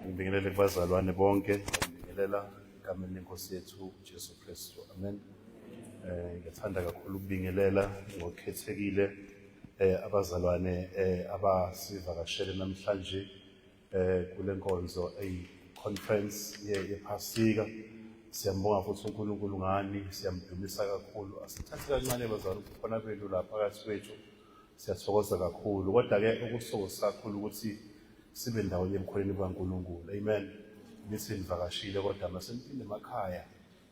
Ngibingelele kubazalwane bonke, ngibingelela egameni lenkosi yethu uJesu Kristu. Amen. Eh ngiyathanda kakhulu ukubingelela ngokukhethekile eh abazalwane eh abasivakashele namhlanje eh kulenkonzo ey conference ye yephasika. Siyambonga futhi uNkulunkulu ngani, siyamdumisa kakhulu. Asithathe kancane bazalwane khona benu lapha phakathi kwethu. siyathokoza kakhulu kodwa-ke okuthokoza kakhulu ukuthi sibe ndawonye emkhoneni kukankulunkulu amen nithi nivakashile kodwa maseniphinde emakhaya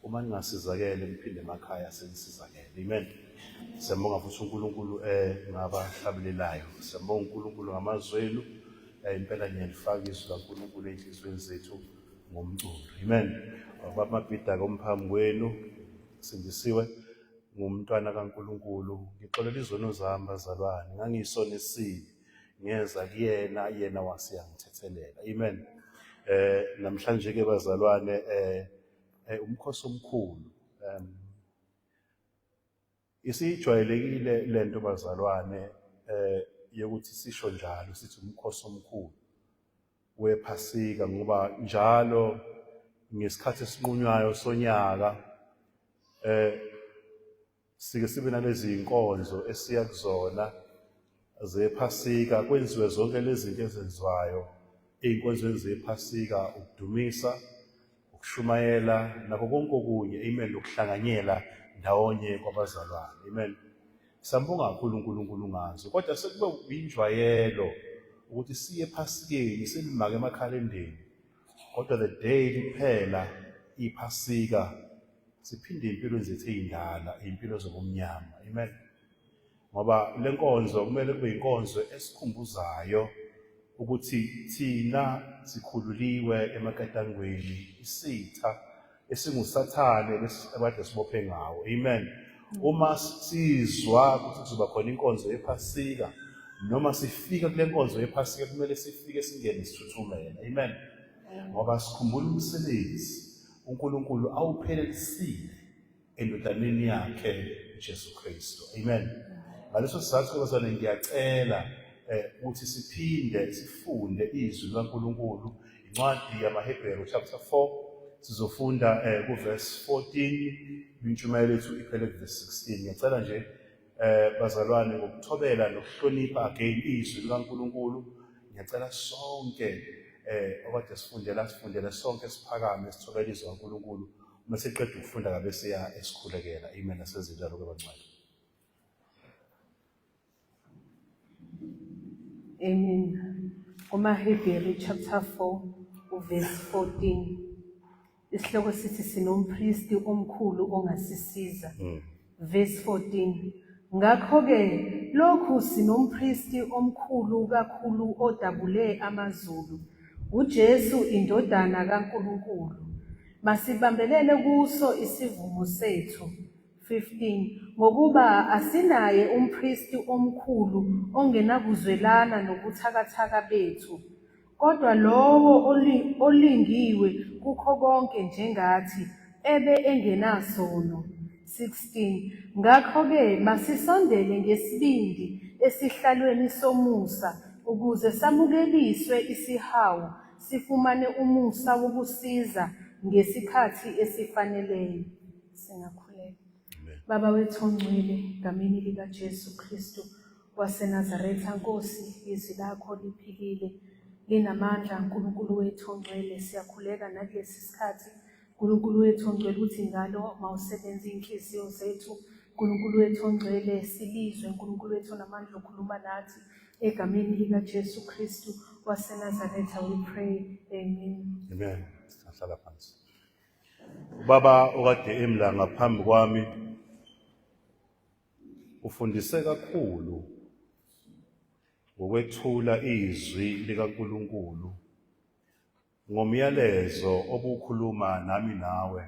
uma ningasizakele niphinde emakhaya senisizakele amen siyambonga futhi unkulunkulu um ngabahlabelelayo siyambonga unkulunkulu ngamazwi enu eh, impela niyalifaka izwi lankulunkulu ey'nhliziyweni zethu ngomculo amen babamabhida-ke umphambi kwenu sindisiwe ngumntwana kaNkulunkulu ngixolela izono zami bazalwane ngangiyisona esibi ngeza kuyena yena wase yangithethelela amen eh namhlanje ke bazalwane eh, eh umkhosi omkhulu um isijwayelekile lento bazalwane eh yokuthi sisho njalo sithi umkhosi omkhulu wephasika ngoba njalo ngesikhathi esinqunywayo sonyaka eh sike sibe nalezi inkonzo esiya kuzona zephasika kwenziwe zonke lezi zinto ezenziwayo ey'nkonzweni zephasika ukudumisa ukushumayela nako konke okunye amen nokuhlanganyela ndawonye kwabazalwane amen sambonga kakhulu uNkulunkulu ngazo kodwa sekube uyinjwayelo ukuthi siye phasikeni silimake emakhalendeni kodwa the day liphela iphasika siphinde impilo zethu ezindala impilo zobumnyama amen ngoba le nkonzo kumele kube inkonzo esikhumbuzayo ukuthi thina sikhululiwe emaketangweni isitha esingusathane abade sibophe ngawo amen uma sizwa ukuthi kuzoba khona inkonzo yephasika noma sifika kule nkonzo yephasika kumele sifike singene sithuthumele amen ngoba sikhumbula umsebenzi uNkulunkulu awuphelelisile endodaneni yakhe uJesu Kristu. Amen. Ngaleso sizathu bazane ngiyacela eh, ukuthi siphinde sifunde izwi likaNkulunkulu incwadi yamaHebheru chapter 4 sizofunda eh, kuverse 14 intshumayelo yethu iphele kuverse 16 ngiyacela nje Eh bazalwane ngokuthobela nokuhlonipha again izwi likaNkuluNkulu ngiyacela sonke eh okade sifundela sifundele sonke siphakame sithobela izwi likaNkuluNkulu uma siqeda ukufunda kabe siya esikhulekela amen asezindalo kwebancane Amen. KumaHebheru chapter 4 uverse 14. Isihloko sithi sinompristi omkhulu ongasisiza. Mm. Verse 14. Ngakho-ke lokhu sinompristi omkhulu kakhulu odabule amazulu, uJesu indodana kaNkulunkulu. Masibambelele kuso isivumo sethu. 15 ngokuba asinaye umpristi omkhulu ongenakuzwelana nobuthakathaka bethu Kodwa lowo oli- olingiwe kukho konke njengathi, ebe engenasono. 16 Ngakho-ke masisondele ngesibindi esihlalweni somusa, ukuze samukeliswe isihawu, sifumane umusa wokusiza ngesikhathi esifaneleyo. Singakhuleka. Baba wethu ongcwele, ngamini likaJesu Kristu, waseNazaretha Nkosi izwi lakho liphilile linamandla uNkulunkulu wethu ongcwele siyakhuleka nakulesi sikhathi uNkulunkulu wethu ongcwele ukuthi ngalo mawusebenza inhliziyo zethu uNkulunkulu wethu ongcwele silizwe uNkulunkulu wethu namandla okhuluma nathi egameni lika Jesu Kristu waseNazaretha we pray amen amen sihlala phansi ubaba okade emla ngaphambi kwami Ufundise kakhulu ngokwethula izwi likaNkulunkulu ngomyalezo obukhuluma nami nawe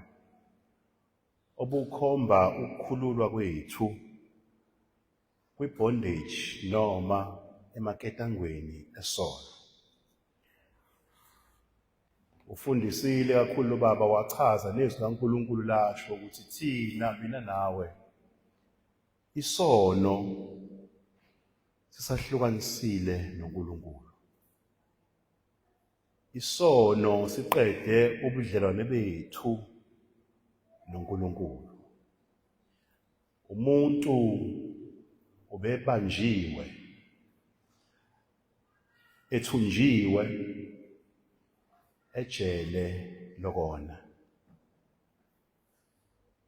obukhomba ukukhululwa kwethu kwibondage noma emaketangweni esono. Ufundisile kakhulu lo baba wachaza nezwi kaNkulunkulu lasho ukuthi thina mina nawe isono sisahlukanisile noNkulunkulu. Isono siqede ubudlelwane bethu noNkulunkulu. Umuntu ubebanjiwe ethunjiwe ejele lokona.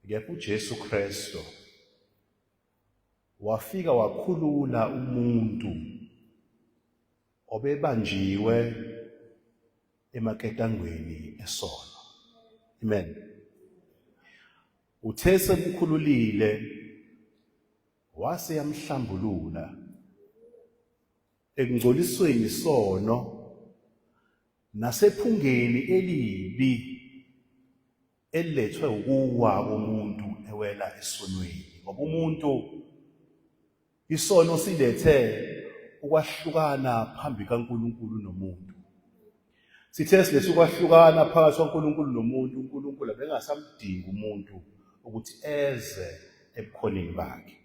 Kepha uJesu Kristu wafika wakhulula umuntu obebanjiwe emaketangweni esono. Amen. Uthe semkhululile wase yamhlambulula ekungcolisweni sono nasephungeni elibi elilethwe ukuwa komuntu ewela esonweni ngoba umuntu Isono silethe ukwahlukana phambi kaNkulunkulu nomuntu. Sithe silethe ukwahlukana phakathi kwaNkulunkulu nomuntu, uNkulunkulu abengasamdingi umuntu ukuthi eze ebukhoneni bakhe.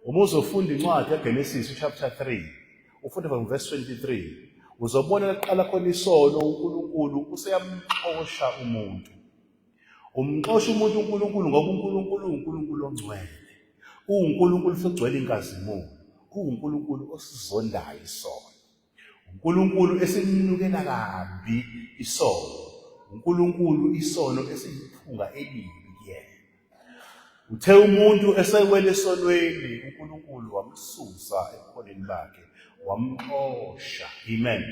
Uma uzofunda incwadi yaGenesis chapter 3, ufunde from verse 23, uzobona laqala khona isono uNkulunkulu useyamxosha umuntu. Umxosha umuntu uNkulunkulu ngoba uNkulunkulu uwuNkulunkulu ongcwele. UwuNkulunkulu futhi ugcwele inkazimulo. UwuNkulunkulu osizondayo isono. UNkulunkulu esimnukela kabi isono. UNkulunkulu isono esiyiphunga elibi kuyena. Uthe umuntu esewele esonweni uNkulunkulu wamsusa ebuholeni bakhe wamxosha. Amen.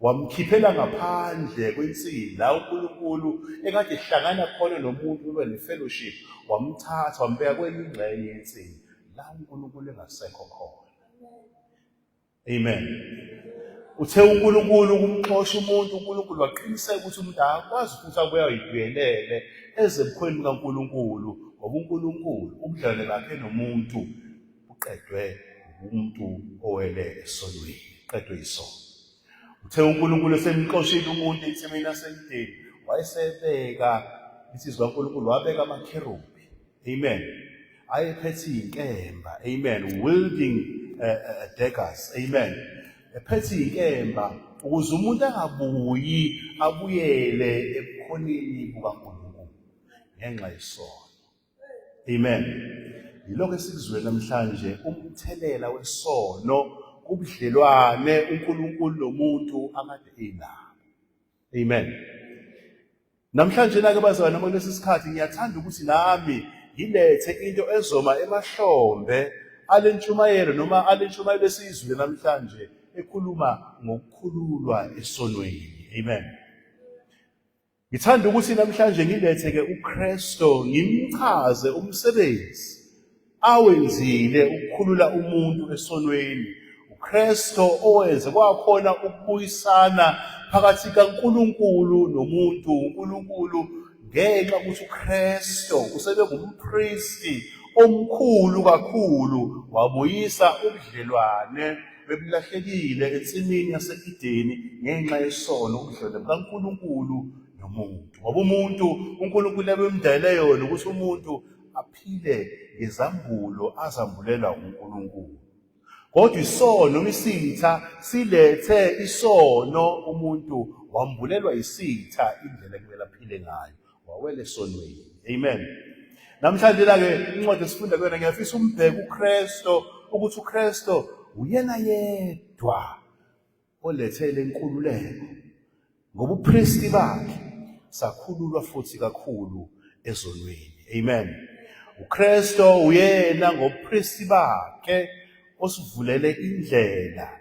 wamkhiphela ngaphandle kwensini la uNkulunkulu ekade ehlangana khona nomuntu ube ne-fellowship wamthatha wambeka kwenye ingxenye yensini la uNkulunkulu engasekho khona amen uthe uNkulunkulu ukumxosha umuntu uNkulunkulu waqiniseka ukuthi umuntu akwazi ukuthi abuya yidwelele ezebukhweni kaNkulunkulu ngoba uNkulunkulu ubudlelwane bakhe nomuntu uqedwe umuntu owele esonweni qedwe isono uthe uNkulunkulu esemxoshile umuntu ensimini yasemdeni wayesebeka insizwa kaNkulunkulu wabeka amakherubhi amen ayephethe inkemba amen wielding uh, uh, daggers amen ephethe inkemba ukuze umuntu angabuyi abuyele ebukhoneni bukaNkulunkulu ngenxa yesono Amen. Yilokho esikuzwe namhlanje umthelela wesono kubudlelwane uNkulunkulu nomuntu akade enabo. Amen. Namhlanje nake bazalwane noma kulesi sikhathi ngiyathanda ukuthi nami ngilethe into ezoma emahlombe alentshumayelo noma alentshumayelo esiyizwile namhlanje ekhuluma ngokukhululwa esonweni. Amen. Ngithanda ukuthi namhlanje ngiletheke uKristo ngimchaze umsebenzi awenzile ukukhulula umuntu esonweni. uKristo owenze kwakhona ukubuyisana phakathi kaNkulunkulu nomuntu. uNkulunkulu ngenxa ukuthi uKristo usebe ngumpristi omkhulu kakhulu wabuyisa ubudlelwane bebulahlekile ensimini yase-Edeni ngenxa yesono ubudlwane bukaNkulunkulu nomuntu. Ngoba umuntu uNkulunkulu ebemdayele yona ukuthi umuntu aphile ngezambulo azambulela uNkulunkulu. Kodwa isono isitha silethe isono umuntu wambulelwa isitha indlela ekumele aphile ngayo. wawele sonweni amen namhlanje la ke incwadi esifunda kuyona ngiyafisa umbheke uKristo ukuthi uKristo uyena yedwa olethele inkululeko ngoba uPristi bakhe sakhululwa futhi kakhulu ezonweni amen uKristo uyena ngobuPristi bakhe osivulele indlela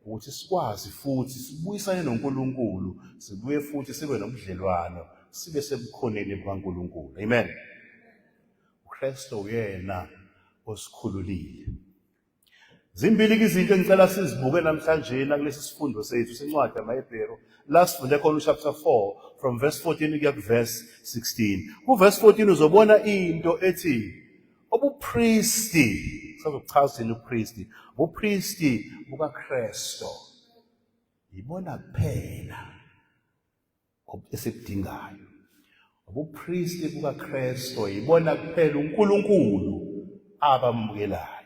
ukuthi sikwazi futhi sibuyisane noNkulunkulu sibuye futhi sibe nobudlelwano sibe sebukhoneni bukaNkulunkulu amen uKristu uyena osikhululile zimbili izinto engicela sizibuke namhlanje nakulesi sifundo sethu sencwadi yamaHebheru la sifunde khona uchapter 4 from verse 14 kuya kuverse 16 kuverse 14 uzobona into ethi Ubupristi, sazochaza ini upristi? Ubupristi bukaKristu. Yibona kuphela esikudingayo. Ubupristi bukaKristu yibona kuphela uNkulunkulu abamukelayo.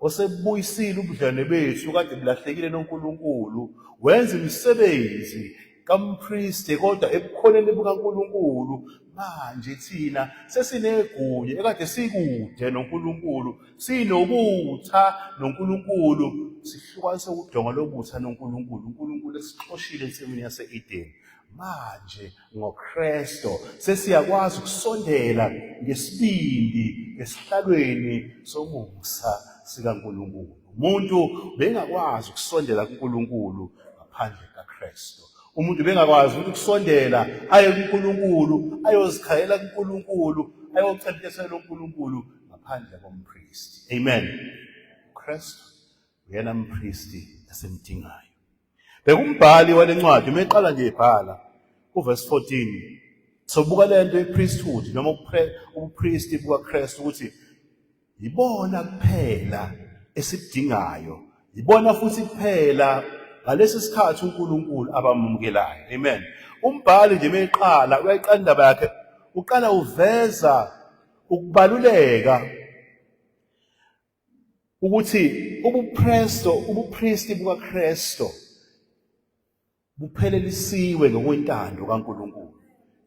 osebuyisile ubudlane bethu kade bulahlekile noNkulunkulu wenza imisebenzi kampriste kodwa ebukhoneni bukaNkulunkulu manje thina sesinegunya ekade sikude noNkulunkulu sinobutha noNkulunkulu sihlukanise udonga lobutha noNkulunkulu uNkulunkulu esixoshile ensimini yase-Edeni manje ngoKristu sesiyakwazi ukusondela ngesibindi esihlalweni somusa sikaNkulunkulu umuntu bengakwazi ukusondela kuNkulunkulu ngaphandle kaKristu umuntu bengakwazi ukusondela aye kuNkulunkulu ayozikhayela kuNkulunkulu ayocentisela uNkulunkulu ngaphandle kompristi amen uKristu uyena mpristi esimdingayo Bheka umbhali wale ncwadi uma eqala nje ebhala kuvesi 14 sobuka le nto yepriesthood noma ubupristi bukaKristu ukuthi yibona kuphela esikudingayo yibona futhi kuphela ngalesi sikhathi uNkulunkulu abamukelayo amen umbhali nje meqala uyayiqala indaba yakhe uqala uveza ukubaluleka ukuthi ubuPristo ubuPristi bukaKristu buphelelisiwe ngokwentando kaNkuluNkulu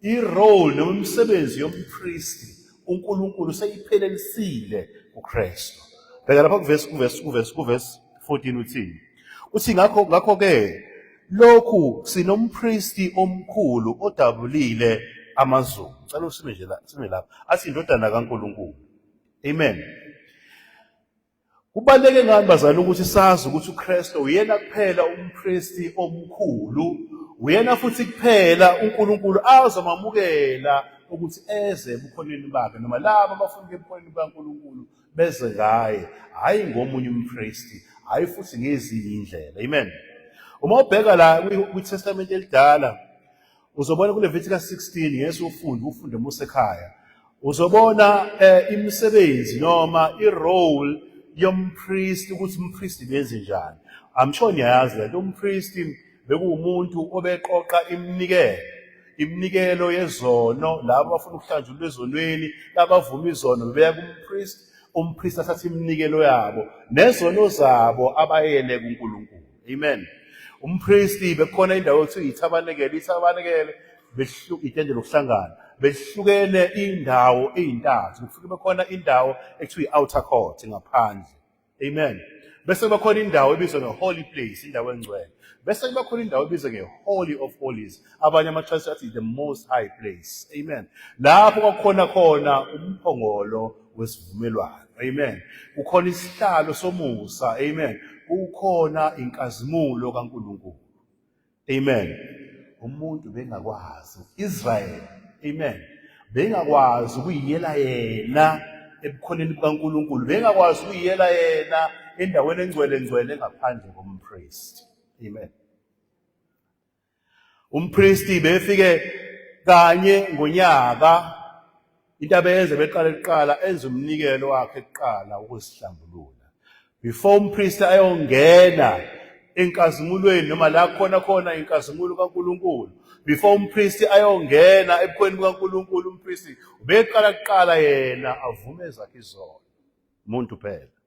irole noma imisebenzi yompristi uNkulunkulu seyiphelelisile kuKristu bheka lapha kuvesi kuvesi kuvesi kuvesi 14 uthini uthi ngakho ngakho ke lokhu sinompristi omkhulu odabulile amazulu ngicela usime nje la sime lapha athi indodana kaNkuluNkulu Amen. Kubaleke ngani bazali ukuthi sazi ukuthi uKristu uyena kuphela umKristu omkhulu, uyena futhi kuphela uNkulunkulu azomamukela ukuthi eze ebukhoneni bakhe noma labo abafuna ebukhoneni bukaNkulunkulu beze ngaye, hhayi ngomunye umKristu, hhayi futhi ngezinye indlela. Amen. Uma ubheka la kwiTestamente elidala Uzobona kuLevitikus 16 ngeke ufunde ufunde uma usekhaya. Uzobona eh, imisebenzi noma i-role yompristi ukuthi umpristi benze njani. I'm sure niyayazi lento umpristi bekuwumuntu obeqoqa iminikelo iminikelo yezono labo abafuna ukuhlanjulwa ezonweni labavuma izono bebeya kumpristi umpristi athatha iminikelo yabo nezono zabo abayele kuNkulunkulu Amen. Umpristi bekhona indawo ekuthiwa yithabanekele, ithabanekele behluka itende lokuhlangana. Behlukene indawo ezintathu. Kufuke bekhona indawo ekuthiwa i-outer court ngaphandle. Amen. Bese kuba khona indawo ebizwa nge-holy place, indawo engcwele. Bese kuba khona indawo ebizwa nge-holy of holies, abanye amatrust athi the most high place amen lapho kwakhona khona umphongolo wesivumelwano amen kukhona isihlalo somusa amen kukhona inkazimulo kaNkuluNkulu amen umuntu bengakwazi uIsrael amen bengakwazi ukuyiyela yena ebukhoneni bukaNkuluNkulu bengakwazi ukuyiyela yena endaweni engcwele ngcwele ngaphandle kompriest amen Umpristi befike kanye ngonyaka into abeyenze beqale kuqala enze umnikelo wakhe kuqala ukuzihlambulula before umpristi ayongena enkazimulweni noma la khona khona inkazimulo kaNkuluNkulu before umpristi ayongena ebukhweni bukaNkuluNkulu umpristi ubeqala kuqala yena avume ezakhe izono umuntu phela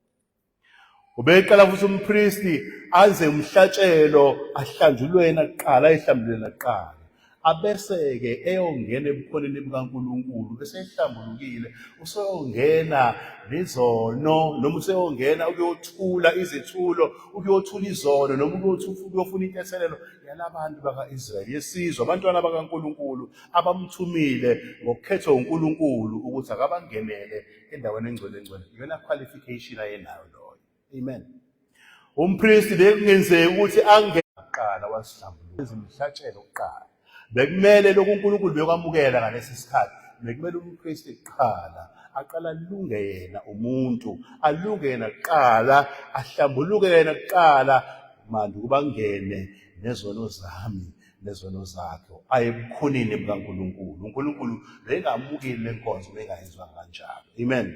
Ubeqala futhi umpristi anze umhlatshelo ahlanjulwe yena kuqala ehlambulule nakuqala. Abese-ke eyongena ebukhoneni bukaNkulunkulu bese ehlambulukile useyongena nezono noma useyongena ukuyothula izethulo ukuyothula izono noma ukuyofuna intethelelo yalabantu baka-Israyeli yesizwe abantwana bakaNkulunkulu abamthumile ngokukhetha uNkulunkulu ukuthi akabangenele endaweni engcwele engcwele iyona qualification ayenayo loyo amen umpristi bekungenzeki ukuthi angeqala wasihlambulula izimhlatshelo kuqala bekumele lokhu uNkulunkulu bekwamukela ngalesi sikhathi bekumele umpristi kuqala aqala alunge yena umuntu alunge yena kuqala ahlambuluke yena kuqala manje ukuba ngene nezono zami nezono zakhe aye ebukhoneni bukaNkulunkulu uNkulunkulu bengamukeli lenkonzo bengayizwa kanjalo amen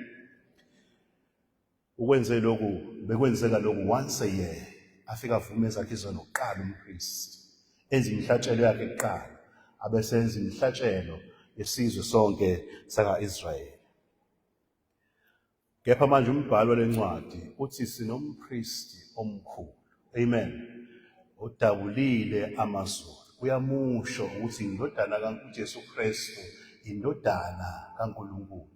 ukwenze lokhu bekwenzeka lokhu once a year afika avume zakhe izono kuqala umpriest enza imihlatshelo yakhe kuqala abesenza imihlatshelo yesizwe sonke saka-Israyeli Kepha manje umbhalo walencwadi uthi sinompristi omkhulu. Amen. Odabulile amazulu. Uyamusho ukuthi indodana kaNkulunkulu Kristu indodana kaNkulunkulu.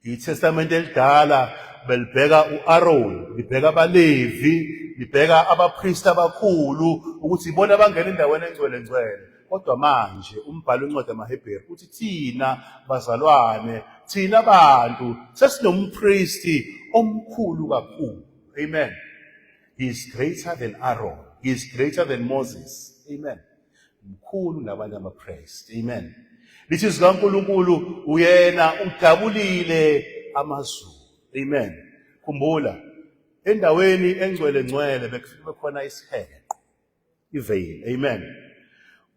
ITestamente elidala belibheka uAron, libheka abaLevi, libheka abapristi abakhulu ukuthi ibona abangena endaweni engcwele ngcwele. Kodwa manje umbhalo incwadi amaHebheru uthi thina bazalwane, thina bantu sesinompristi omkhulu kakhulu. Amen. He is greater than Aaron. He is greater than Moses. Amen. Mkhulu nabanye amapriest. Amen. Lithi zikaNkulunkulu uyena udabulile amazulu. Amen. Khumbula endaweni engcwele ngcwele bekufike khona isiheqo. iveyili amen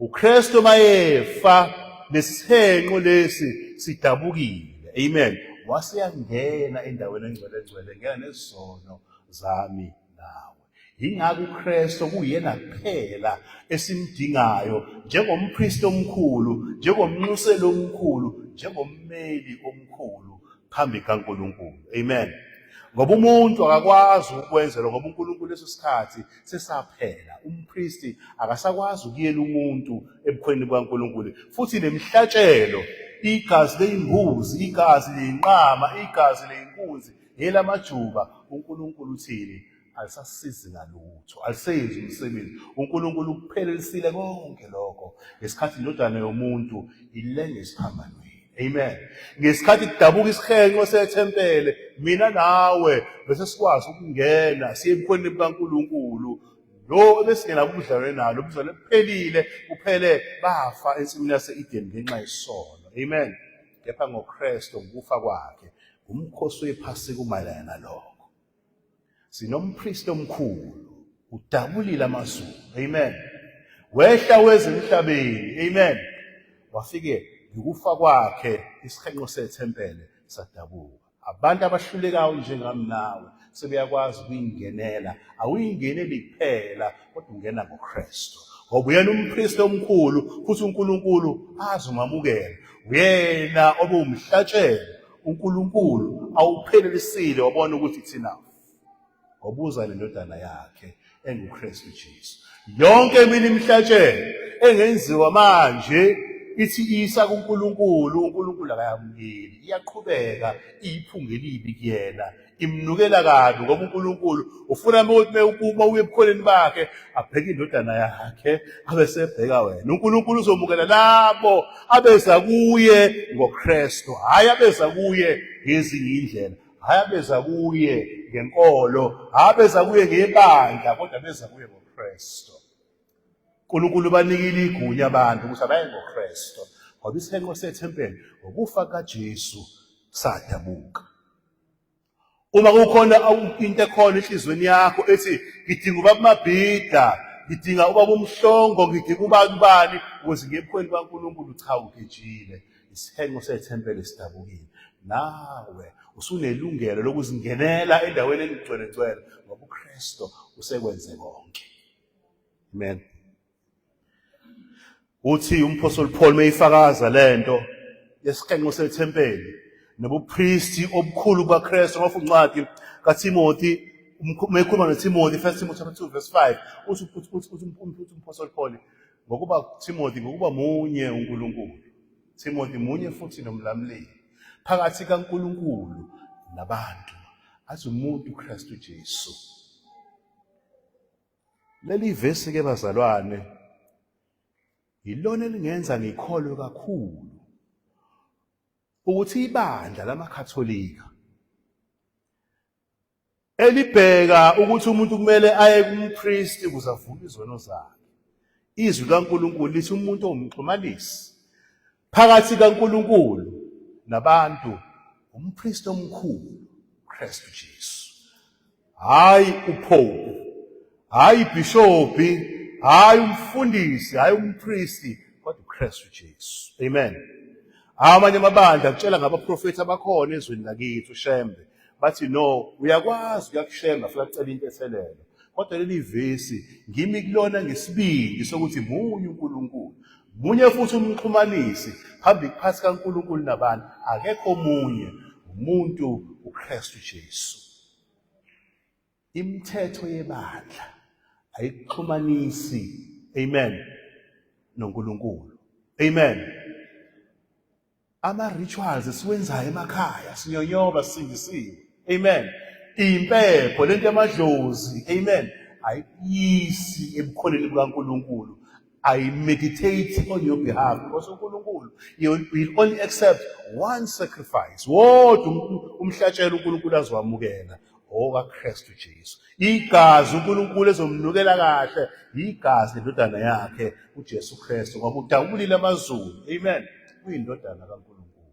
uKristu mayefa nesihenqo lesi sidabukile amen waseyangena endaweni engcwele engcwele ngena nezono zami nawe yingakho uKristu kuyena kuphela esimdingayo njengompriest omkhulu njengomnxuseli omkhulu njengommeli omkhulu phambi kaNkuluNkulu amen ngoba umuntu akakwazi ukwenzela ngoba uNkulunkulu leso sikhathi sesaphela umpristi akasakwazi ukuyela umuntu ebukhweni bukaNkulunkulu futhi nemihlatshelo igazi leyimbuzi igazi leyinqama igazi leyinkunzi ngelamajuba uNkulunkulu uthini alisasizi ngalutho alisenzi umsebenzi uNkulunkulu ukuphelelisile konke lokho ngesikhathi indodana yomuntu ilenge esiphambanweni Amen. Ngesikhathi kudabuka isihenqo sethempele, mina nawe bese sikwazi ukungena siye ebukhoneni bukaNkulunkulu. Lo ebesingena kubudlelwane nalo ubuzalwane kuphelile, kuphele bafa ensimini yase-Eden ngenxa yesono. Amen. Kepha ngoKristu ngokufa kwakhe, umkhosi wephasika umayelana nalokho. Sinompriest omkhulu udabulile amazulu. Amen. Wehla wezemhlabeni. Amen. Wafike ngikufa kwakhe isihenqo sethempele sadabuka. Abantu abahlulekayo njengami nawe sebeyakwazi ukuyingenela. Awuyingeneli kuphela kodwa ungena ngoKristu. Ngoba uyena umpriest omkhulu futhi uNkulunkulu azomamukela. Uyena obumhlatshelo uNkulunkulu awuphelelisile wabona ukuthi it's enough ngobuza lendodana yakhe enguKristu Jesu yonke eminye imihlatshelo engenziwa manje ithi isa kuNkulunkulu uNkulunkulu akayamukeli iyaqhubeka iyiphunga elibi kuyena imnukela kabi ngoba uNkulunkulu ufuna ukuthi mewukuma uye ebukholeni bakhe abheke indodana yakhe abe sebheka wena uNkulunkulu uzomukela labo abeza kuye ngoKristu hayi abeza kuye ngezinye indlela hayi abeza kuye ngenkolo hayi abeza kuye ngebandla kodwa abeza kuye ngoKristu uNkulunkulu banikile igunya abantu ukuthi abaye ngoKristu ngoba isenqo sethempeli ngokufa kaJesu sadabuka uma kukhona into ekhona enhlizweni yakho ethi ngidinga ubaba mabhida ngidinga ubaba umhlongo ngidinga ubani ubani ukuze ngebukhweni bankulunkulu cha ugejile isihenqo sethempele sidabukile nawe usunelungelo lokuzingenela endaweni enigcwele ngcwele ngoba ukristo usekwenze konke amen Uthi umphostoli Paul meyifakaza lento yesiqenqo sethempeli nobupristi obukhulu bukaKristu ngoba uncwadi kaTimothy mekhuluma noTimothy 1 Timothy chapter 2 verse 5 uthi uthi umphostoli Paul ngokuba Timothy ngokuba munye uNkulunkulu Timothy munye futhi nomlamleli phakathi kaNkulunkulu nabantu athi umuntu uKristu Jesu Leli vesi ke bazalwane yilona elingenza ngikholwe kakhulu ukuthi ibandla lamaKhatholika elibheka ukuthi umuntu kumele aye kumpristi ukuze avume izono zakhe. Izwi likaNkulunkulu lithi umuntu ongumxhumanisi Phakathi kaNkulunkulu nabantu umpriest omkhulu Kristu Jesu. Hayi upope, hayi ibhishopi, hayi umfundisi, hayi umpristi kodwa uKristu Jesu. Amen. Amanye amabandla kutshela ngabaprofethi abakhona ezweni lakithi uShembe bathi no uyakwazi uyakushemba futhi acela into ethelele kodwa leli vesi ngimi kulona ngesibindi sokuthi munye uNkulunkulu munye futhi umxhumanisi phambi phasi kaNkulunkulu nabantu akekho omunye umuntu uKristu Jesu Imithetho yebandla ayikuxhumanisi amen noNkulunkulu. Amen. Ama rituals esiwenzayo emakhaya sinyonyoba singisiwe. Amen. Impepho lento yamadlozi. Amen. Ayisi ebukhoneni bukaNkulunkulu. I meditate on your behalf because uNkulunkulu you will only accept one sacrifice wodwa umhlatshelo uNkulunkulu azowamukela okaKristu Jesu igazi uNkulunkulu ezomnukela kahle yigazi lendodana yakhe uJesu Kristu ngoba udabulile amazulu amen uyindodana kaNkulunkulu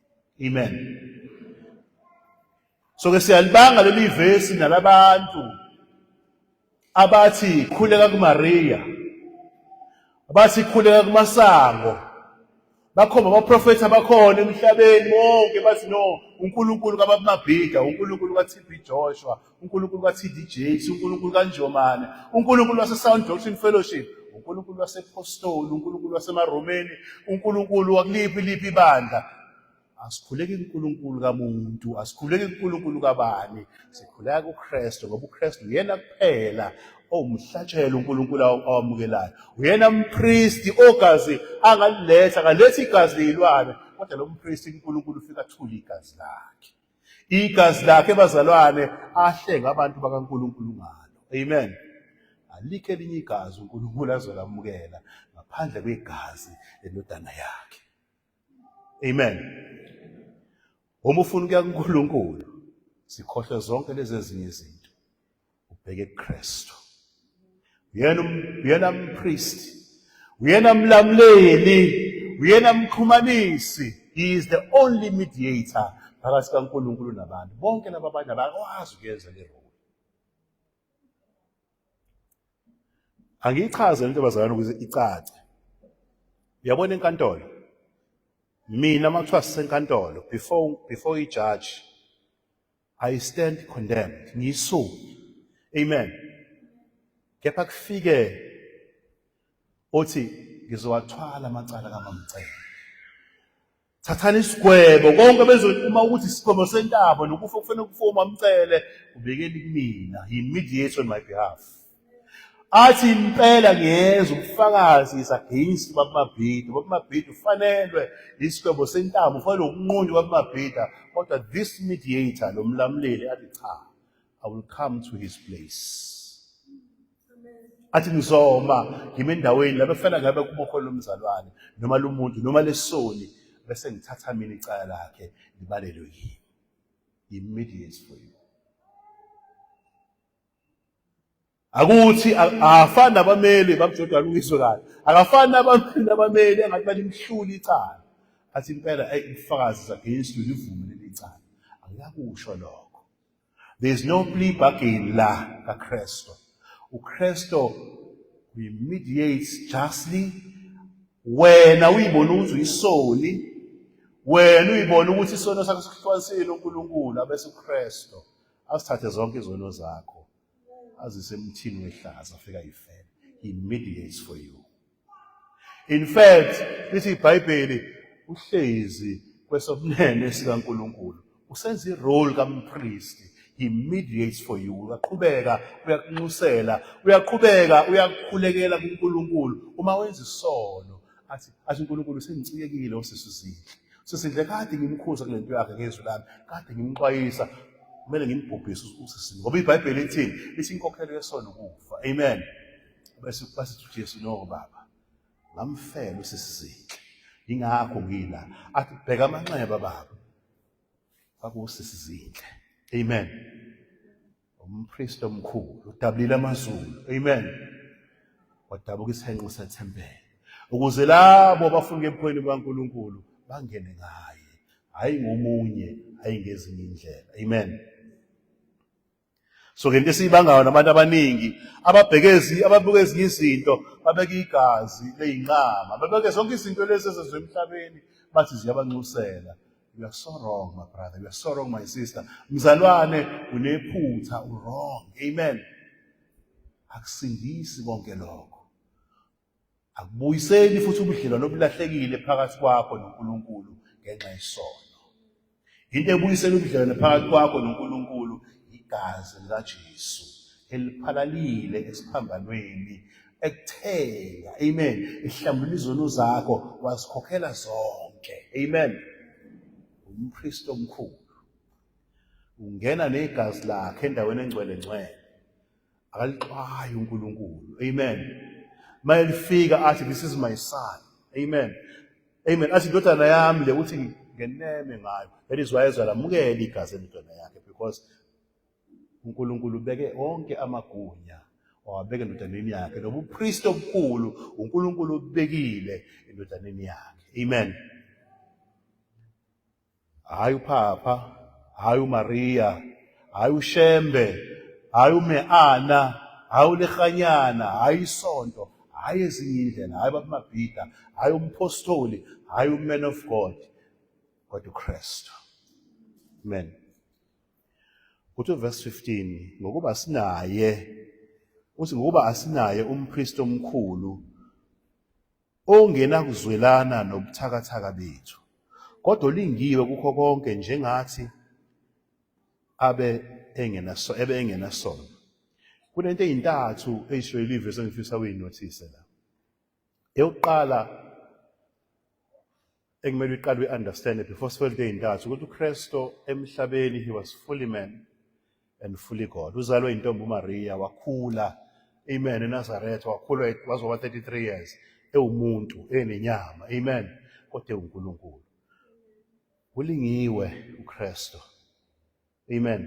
Amen. So ke siyalibanga leli vesi nalabantu abathi khuleka kuMaria abathi khuleka kumasango bakhomba abaprofethi abakhona emhlabeni wonke bathi no uNkulunkulu kababumabhida uNkulunkulu kaTB Joshua uNkulunkulu ka-TD Jakes, uNkulunkulu kaNjomane, uNkulunkulu waseSound Doctrine Fellowship, uNkulunkulu wasePostoli, uNkulunkulu wasemaRomeni, uNkulunkulu wakuliphi liphi ibandla. Asikhuleki kuNkulunkulu kamuntu, asikhuleki kuNkulunkulu kabani. Sikhuleka kuKristu ngoba uKristu uyena kuphela owumhlatshelo uNkulunkulu awamukelayo. Uyena umpristi ogazi angaliletha, akalethi igazi leyilwane, kodwa lo mpristi uNkulunkulu ufika athule igazi lakhe. Igazi lakhe bazalwane ahlenga abantu bakaNkulunkulu ngalo. Amen. Alikho elinye igazi uNkulunkulu azolamukela ngaphandle kwegazi lendodana yakhe. Amen. Uma ufuna ukuya kuNkulunkulu sikhohlwe zonke lezi ezinye izinto. ubheke kuKristu uyena um, uyena umpriest uyena mlamleli uyena mxhumanisi he is the only mediator phakathi kaNkulunkulu nabantu bonke laba abanye abakwazi ukuyenza le role angiyichaze into bazalana ukuze icace uyabona enkantolo mina makuthiwa sisenkantolo before before ijaji I stand condemned. Ngiyisoni. Amen. Kepha kufike othi ngizowathwala amacala kamamcela. Thathani isigwebo konke bezokuma ukuthi isigwebo sentaba nokufa kufanele kufa umamcele ubekeli kumina. He mediates on my behalf. athi impela ngiyeza ubufakazi ngisageyinsi babamabhida babamabhida ufanelwe isigwebo sentamo ufanele ukunqunywa babamabhida kodwa this mediator lo mlamuleli athi cha i will come to his place athi ngizoma ngime endaweni lapho efana ngabe kubokhona lomzalwane noma lomuntu noma lesoni bese ngithatha mina icala lakhe libalelwe yimi immediate for you akuthi akafani nabameli bamjodwa alungiswe kahle akafani nabameli nabameli angathi balimhlula icala athi impela ayi ubufakazi against you livume leli cala angiyakusho lokho there is no plea bargain la kaKristu uKristu we mediate justly wena uyibona ukuthi uyisoni wena uyibona ukuthi isono sakho sikuhlukanisile uNkulunkulu abese uKristu asithathe zonke izono zakho azise emthini wehlaza afika yifele he mediates for you in fact lithi ibhayibheli uhlezi kwesobunene sikaNkuluNkulu usenza irole kampristi he mediates for you uyaqhubeka uyakunxusela uyaqhubeka uyakukhulekela kuNkuluNkulu uma wenza isono athi athi uNkulunkulu sengicikekile usisizile sisindle kade ngimkhuza kule nto yakhe ngezwi lami kade ngimxwayisa kumele ngimbhubhise usisi ngoba ibhayibheli ithini lithi inkokhelo yesono ukufa amen bese basithi uJesu no baba ngamfela usisizinhle ingakho ngila athi bheka amanxeba baba kwakusisizinhle amen umpriest omkhulu udabulile amazulu amen wadabuka isenqo sethempele ukuze labo abafuna ebukhweni bukaNkulunkulu bangene ngaye hayi ngomunye hayi ngezinye indlela amen so ke into esiyibangayo nabantu abaningi ababhekezi ababuka ezinye izinto babeka igazi leyinqama babeke zonke izinto lezi ezezwe emhlabeni bathi ziyabanxusela You are so wrong, my brother. You are so wrong, my sister. Mzalwane, unephutha, wrong. Amen. Akusindisi konke lokho. Akubuyiseli futhi ubudlelwano obulahlekile phakathi kwakho noNkulunkulu ngenxa yesono. Into ebuyisela ubudlelwano phakathi kwakho noNkulunkulu igazi likaJesu eliphalalile esiphambanweni ekuthenga amen ihlambula izono zakho wazikhokhela zonke amen umpriest omkhulu ungena negazi lakhe endaweni engcwele ngcwele akalixwayi uNkulunkulu amen mayelifika athi this is my son amen amen athi indodana yami le uthi ngeneme ngayo that is why ezwa lamukela igazi endodana yakhe because uNkulunkulu ubeke onke amagunya wawabeka endodaneni yakhe nobupristi obukhulu uNkulunkulu ubekile endodaneni yakhe amen hayi uphapha hayi uMaria hayi uShembe hayi uMeana hayi uLehanyana hayi isonto hayi ezinye indlela hayi babamabhida hayi umphostoli hayi uman of God kodwa uKristu amen Kuthi verse 15 ngokuba sinaye uthi ngokuba asinaye umpriest omkhulu ongena kuzwelana nobuthakathaka bethu kodwa olingiwe kukho konke njengathi abe engenaso ebe engenasono kunento ezintathu eyisho ilive sengifisa uyinothise la eyokuqala ekumele uyiqale uyi-understand before sifelte ey'ntathu ukuthi ukristo emhlabeni he was fully man and fully god uzalwe intombi umariya wakhula amen enazaretha wakhula wazoba 33 years ewumuntu enenyama amen kodwa ewunkulunkulu ulingiwe ukristo Amen.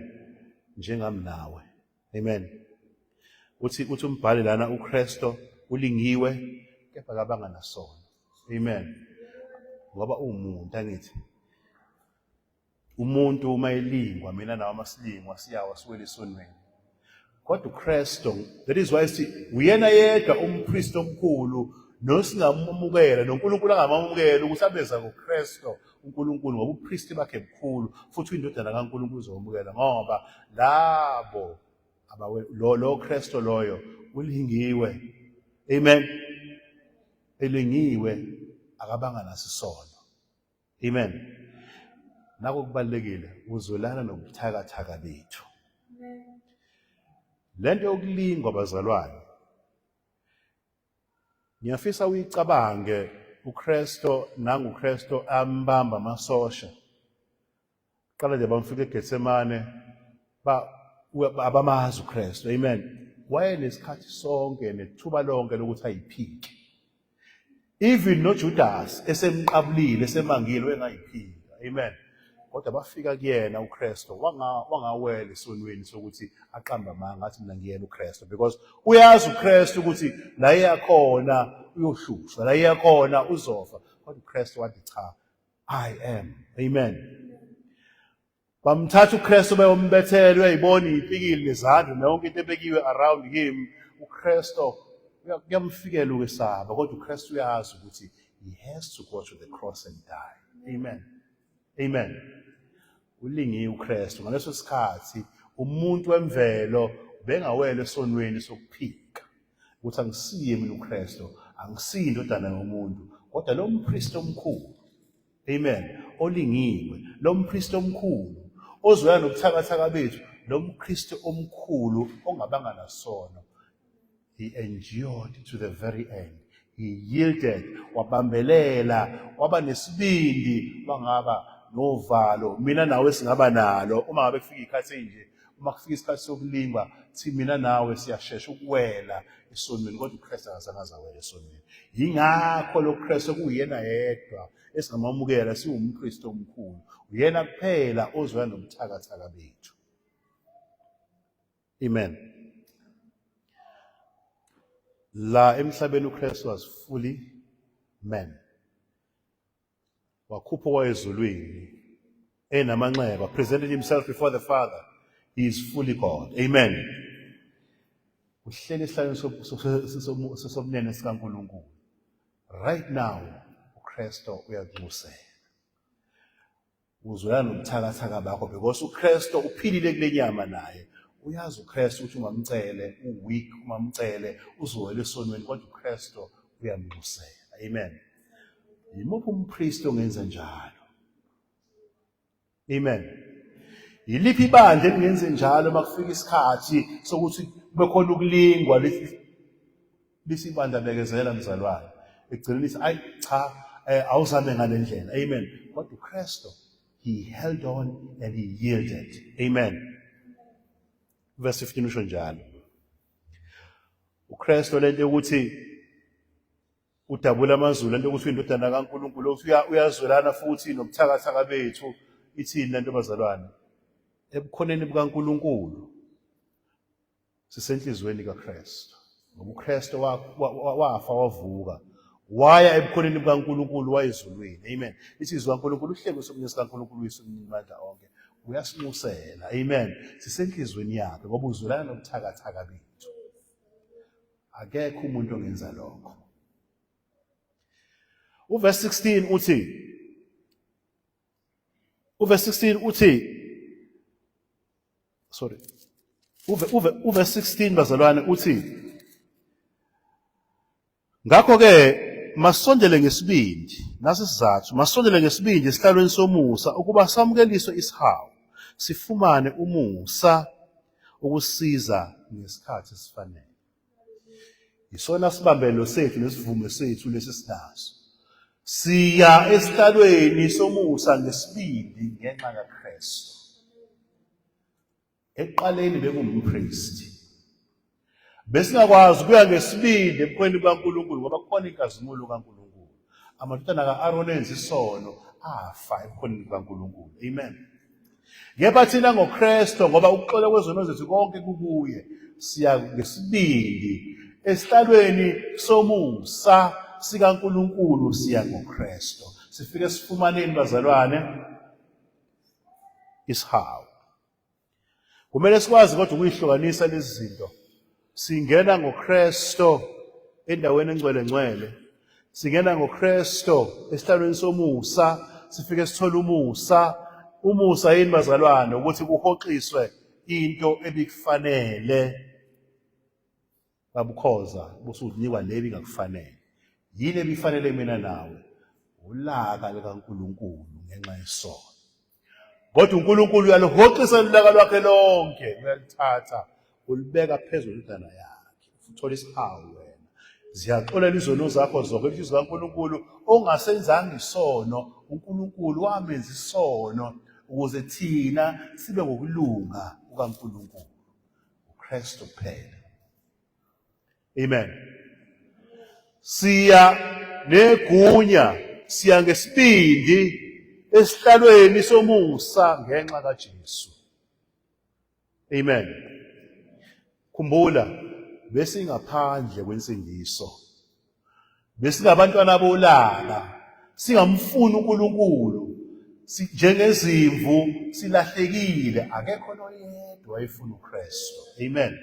Njengami nawe. Amen. Uthi uthi umbhali lana uKristo ulingiwe kepha kabanga nasono. Amen. Ngoba umuntu angithi umuntu uma elingwa mina nawe masilingwa siyawa siwele esonweni kodwa uKristu that is why si uyena yedwa umpriest omkhulu nosingamamukela noNkulunkulu angamamukela ukuthi abeza ngoKristu uNkulunkulu ngoba upriest bakhe mkhulu futhi indodana kaNkulunkulu izomukela ngoba labo abawe lo lo Kristu loyo ulingiwe amen elingiwe akabanga nasisono Amen. Nako kubalekile uzolana nobuthakathaka bethu. Lento yokulingwa bazalwane. Ngiyafisa uyicabange uKristo nanguKristo ambamba amasosha Qala nje bamfika eGetsemane ba abamazi uKristu. Amen. Wayenesikhathi sonke nethuba lonke lokuthi ayiphike. Even noJudas esemqabulile esemangile engayiphika. Amen. Kodwa bafika kuyena uKristu wanga wangawela esonweni sokuthi aqamba amanga athi mina ngiyena uKristu because uyazi uKristu ukuthi la eyakhona uyohlushwa la eyakhona uzofa kodwa uKristu wathi cha I am. Amen. Bamthatha uKristu beyombethela uyayibona ipikile nezandla nonke into ebekiwe around him uKristu kuyamfikela ukwesaba kodwa uKristu uyazi ukuthi he has to go to the cross and die. Amen. Amen. Ulingiwe uKristu ngaleso sikhathi umuntu wemvelo bengawele esonweni sokuphila ukuthi angisiye mina uKristu angisiye indodana yomuntu kodwa lo mpristi omkhulu amen olingiwe lo mpristi omkhulu ozoya nobuthakathaka bethu lo mKristu omkhulu ongabanga nasono he endured to the very end he yielded wabambelela waba nesibindi wangaba novalo mina nawe singaba nalo uma ngabe kufika ikhathi enje uma kufika isikhathi sokulingwa thi mina nawe siyashesha ukuwela esonweni kodwa uKristu akazange azawela esonweni yingakho lo Kristu kuyena yedwa esingamamukela siwumKristu omkhulu uyena kuphela ozoya nobuthakathaka bethu amen la emhlabeni uKristu was fully man wakhupha okwayezulwini enamanxeba presented himself before the father he is fully god amen uhleli esihlalweni sobunene sikaNkulunkulu right now uKristu uyanxusela uzwela nobuthakathaka bakho because uKristu uphilile kule nyama naye uyazi uKristu ukuthi ungamcele uweak ungamcele uzowela esonweni kodwa uKristu uyamnxusela amen yimuphi umpriest ongenza njalo amen yiliphi ibandla elingenze njalo makufika isikhathi sokuthi kube khona ukulingwa Lisa ibandla bekezela mzalwane. Ekugcineni ithi ayi cha eh, awuzame ngale ndlela. Amen. Kodwa uKristu he held on and he yielded. Amen. Verse 15 usho njalo. uKristu lento yokuthi udabula amazulu lento yokuthi indodana kaNkuluNkulu ukuthi uyazwelana futhi nobuthakathaka bethu ithini lento bazalwane ebukhoneni bukaNkuluNkulu sisenhliziyweni kaKristu ngoba uKristu wafa wavuka waya ebukhoneni bukaNkulunkulu wayezulwini amen isizwe kaNkulunkulu uhlelo sokunye sikaNkulunkulu uyisumnini mandla onke uyasinxusela amen sisenhliziyweni yakhe ngoba uzwelana nobuthakathaka bethu akekho umuntu ongenza lokho uverse 16 uthi Uverse 16 uthi sorry. Uve uve uverse 16 bazalwane uthi Ngakho ke masondele ngesibindi nasisizathu masondele ngesibindi esihlalweni somusa ukuba samukeliswe isihawu sifumane umusa ukusiza ngesikhathi esifanele. Yisona sibambelo sethu nesivumo sethu lesi sinaso. Siya esihlalweni somusa ngesibindi ngenxa kaKristu. Ekuqaleni bekumpristi. Besingakwazi kuya ngesibindi ebukhweni bukaNkulunkulu ngoba kukhona inkazimulo kaNkulunkulu. Amadodana ka-Aroni enza isono afa ebukhoneni bukaNkulunkulu. Amen. Kepha thina ngoKristu ngoba ukuxola kwezono zethu konke kukuye siya ngesibindi esihlalweni somusa sikaNkulunkulu siya ngoKristu. Sifike sifumaneni bazalwane isihawu. Kumele sikwazi kodwa ukuyihlukanisa lezi zinto singena ngoKristo endaweni engcwele ngcwele singena ngoKristo esihlalweni somusa sifike sithola umusa umusa yini bazalwane ukuthi kuhoxiswe into ebikufanele babukhoza busuzinikwa lebi ngakufanele yini ebifanele mina nawe ulaka likaNkuluNkulu ngenxa yesono kodwa uNkulunkulu uyalihoxisa ulaka lwakhe lonke uyalithatha ulibeka phezulu indana yakhe uthola isihawu wena ziyaxolela izono zakho zonke lithi zikaNkulunkulu ongasenzanga isono uNkulunkulu wamenza isono ukuze thina sibe ngokulunga kukaNkulunkulu uKristu kuphela Amen. Siya negunya, siya ngesibindi esihlalweni somusa ngenxa kaJesu. Amen. Khumbula besingaphandle kwensindiso. Besingabantwana bolaka, singamfuni uNkulunkulu. Njengezimvu silahlekile, akekho noyedwa efuna uKristu. Amen.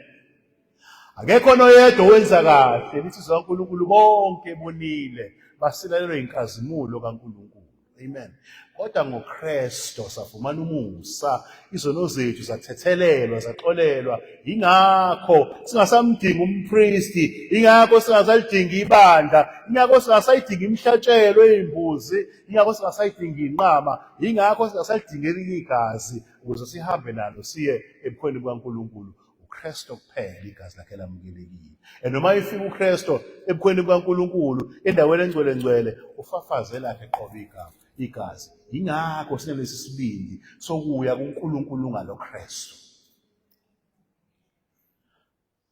Akekho noyedwa owenza kahle, lithi zikaNkulunkulu bonke bonile basilalelwe inkazimulo kaNkulunkulu. Amen. Kodwa ngoKristo safumana umusa, izono zethu zathethelelwa, zaxolelwa. Ingakho singasamdingi umpristi, ingakho singasalidingi ibandla, ingakho singasayidingi imihlatshelo eyimbuzi, ingakho singasayidingi inqama, ingakho singasalidingi elinye igazi ukuze sihambe nalo siye ebukhweni bukaNkulunkulu. uKristu kuphela igazi lakhe lamukelekile and noma ifika uKristu ebukhweni bukaNkulunkulu endaweni engcwele ngcwele ufafaze lakhe qobe igama igazi yingakho sinelesi sibindi sokuya kuNkulunkulu ngaloKristu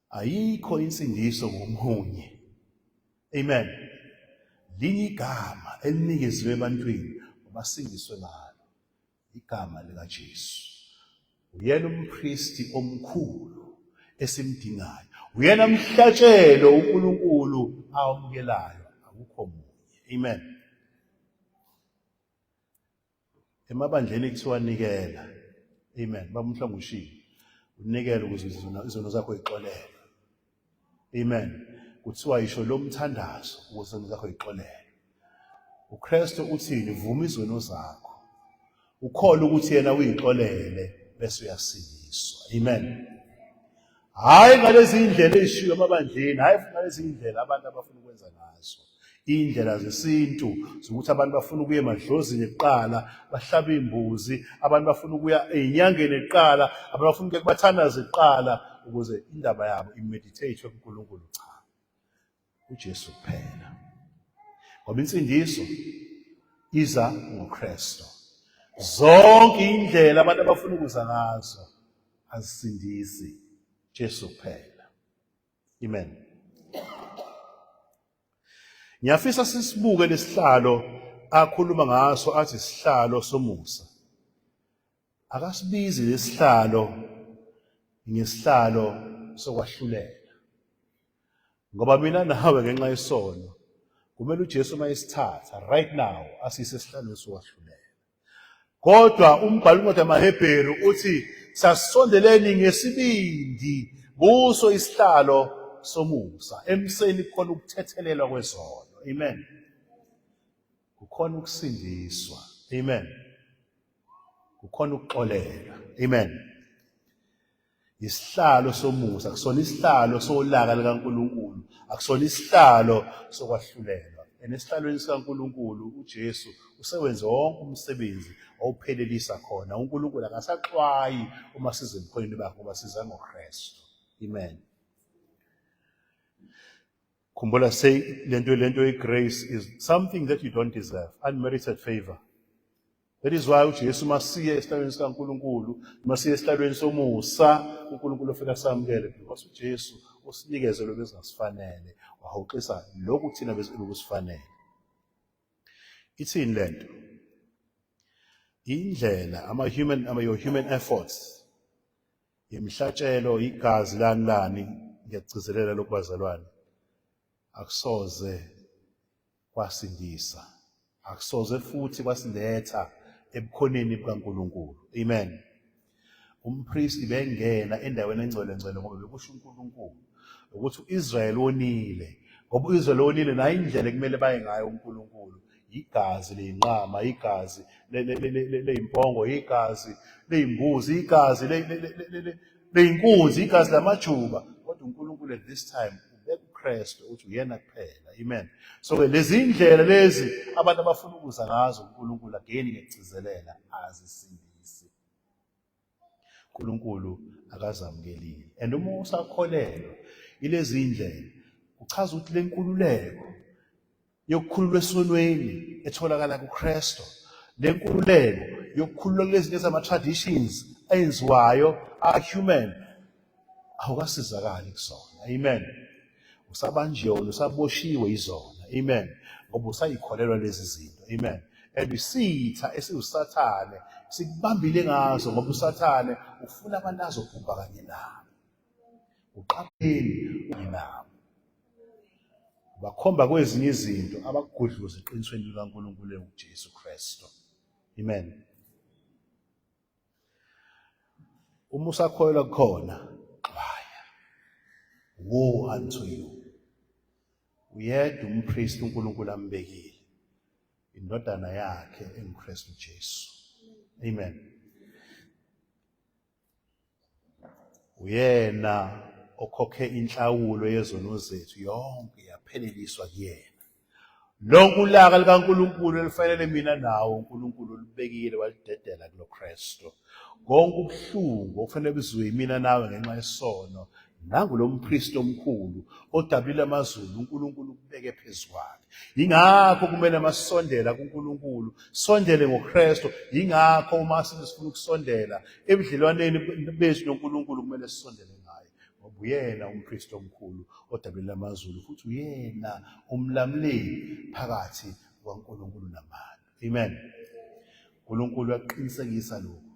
ayikho insindiso ngomunye amen linye igama elinikezwe ebantwini basindiswe ngalo igama likaJesu. Uyena umpristi omkhulu esimdingayo. Uyena mhlatshelo uNkulunkulu awamukelayo, akukho munye. Amen. Emabandleni kuthiwa nikela. Amen. Baba umhlanga ushilo. Unikele ukuze izono zakho ixolele. Amen. Kuthiwa yisho lo mthandazo ukuseni zakho yixolele. UKristu uthini? Vuma izono zakho. Ukhole ukuthi yena uyixolele bese uyasindiswa. Amen. Hayi ngalezi indlela ezishiyo emabandleni, hayi ngalezi indlela abantu abafuna ukwenza ngazo. Iy'ndlela zesintu zokuthi abantu bafuna ukuya emadlozini kuqala bahlabe iy'mbuzi, abantu bafuna ukuya ey'nyangeni kuqala, abantu bafuna ukuya kubathandazi kuqala ukuze indaba yabo imedithethwe kuNkulunkulu cha. UJesu kuphela. Ngoba insindiso iza ngoKristu. Zonke indlela abantu abafuna ukuza ngazo azisindisi Jesu kuphela. Amen. Ngiyafisa sisibuke lesihlalo akhuluma ngaso athi sihlalo somusa. Akasibizi lesihlalo ngesihlalo sokwahlulela. Ngoba mina nawe ngenxa yesono kumele uJesu mayesithatha right now asise esihlalweni sokwahlulela. Kodwa umbhalo incwadi yamaHebheru uthi sasondeleni ngesibindi kuso isihlalo somusa emseni kukhona ukuthethelelwa kwezono amen kukhona ukusindiswa amen kukhona ukuxolela amen Isihlalo somusa akusona isihlalo solaka likaNkulunkulu, akusona isihlalo sokwahlulelwa. And esihlalweni sikaNkulunkulu uJesu usewenze wonke umsebenzi owuphelelisa khona. UNkulunkulu akasaxwayi uma siza ebukhoneni bakhe ngoba siza ngoKristu. Amen. Khumbula say lento lento igrace is something that you don't deserve, unmerited favor. That is why uJesu masiye esihlalweni sikaNkulunkulu, masiye esihlalweni somusa, uNkulunkulu ofika samukele because uJesu usinikeze lokho ezingasifanele, wahoxisa lokhu thina besikusifanele. Ithini lento? Indlela ama human ama your human efforts yemhlatshelo igazi lani lani ngiyagcizelela lokubazalwane akusoze kwasindisa akusoze futhi kwasiletha ebukhoneni bukaNkulunkulu amen umpristi bengena endaweni engcwele ngcwele ngoba bekusho uNkulunkulu ukuthi uIsrael onile ngoba uIsrael onile nayo indlela ekumele baye ngayo uNkulunkulu igazi leyinqama igazi leyimpongo igazi leyimbuzi igazi beyinkunzi igazi lamajuba kodwa uNkulunkulu at this time ubeka uKristu uthi uyena kuphela amen so ke lezi indlela lezi abantu abafuna ukuza ngazo uNkulunkulu again ngekugcizelela azisindisi uNkulunkulu akazamukelile and uma usakholelwa ilezi indlela kuchaza ukuthi lenkululeko yokukhululwa esonweni etholakala kuKristu lenkululeko yokukhululwa kulezi lezi ama-traditions enziwayo a-human awukasizakali kusona amen usabanjolo usaboshiwe izona amen ngoba usayikholelwa lezi zinto amen and isitha esiwusathane sikubambile ngazo ngoba usathane ufuna abantu azobhubha kanye nabo uqapheli nabo bakhomba kwezinye izinto abakugudluza eqinisweni likaNkulunkulu enguJesu Kristu amen uma usakholelwa kukhona xwaya woe unto you uyedwa umpriest uNkulunkulu ambekile indodana yakhe enguKristu Jesu amen uyena okhokhe inhlawulo yezono zethu yonke yapheleliswa kuyena lonke ulaka likaNkulunkulu elifanele mina nawo uNkulunkulu olubekile walidedela kuloKristu konke ubuhlungu okufanele buziwe yimina nawe ngenxa yesono nangu lo mpristi omkhulu odabile amazulu uNkulunkulu ukubeke phezu kwakhe yingakho kumele masondela kuNkulunkulu sondele ngoKristu yingakho uma sifuna ukusondela ebudlelwaneni bethu noNkulunkulu kumele sisondele ngaye ngoba uyena umpristi omkhulu odabile amazulu futhi uyena umlamleli phakathi kwaNkulunkulu nabantu amen uNkulunkulu uyaqinisekisa lokho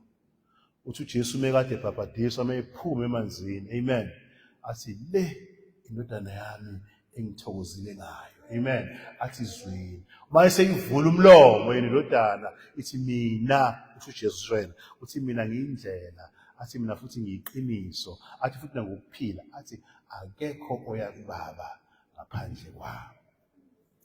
uthi uJesu mekade ebhabhadiswa meyiphuma emanzini amen athi le indodana yami engithokozile ngayo amen athi izwini uma eseyivula umlomo yena indodana ithi mina usho uJesu wena uthi mina ngiyindlela athi mina futhi ngiyiqiniso athi futhi nangokuphila athi akekho oya kubaba ngaphandle kwami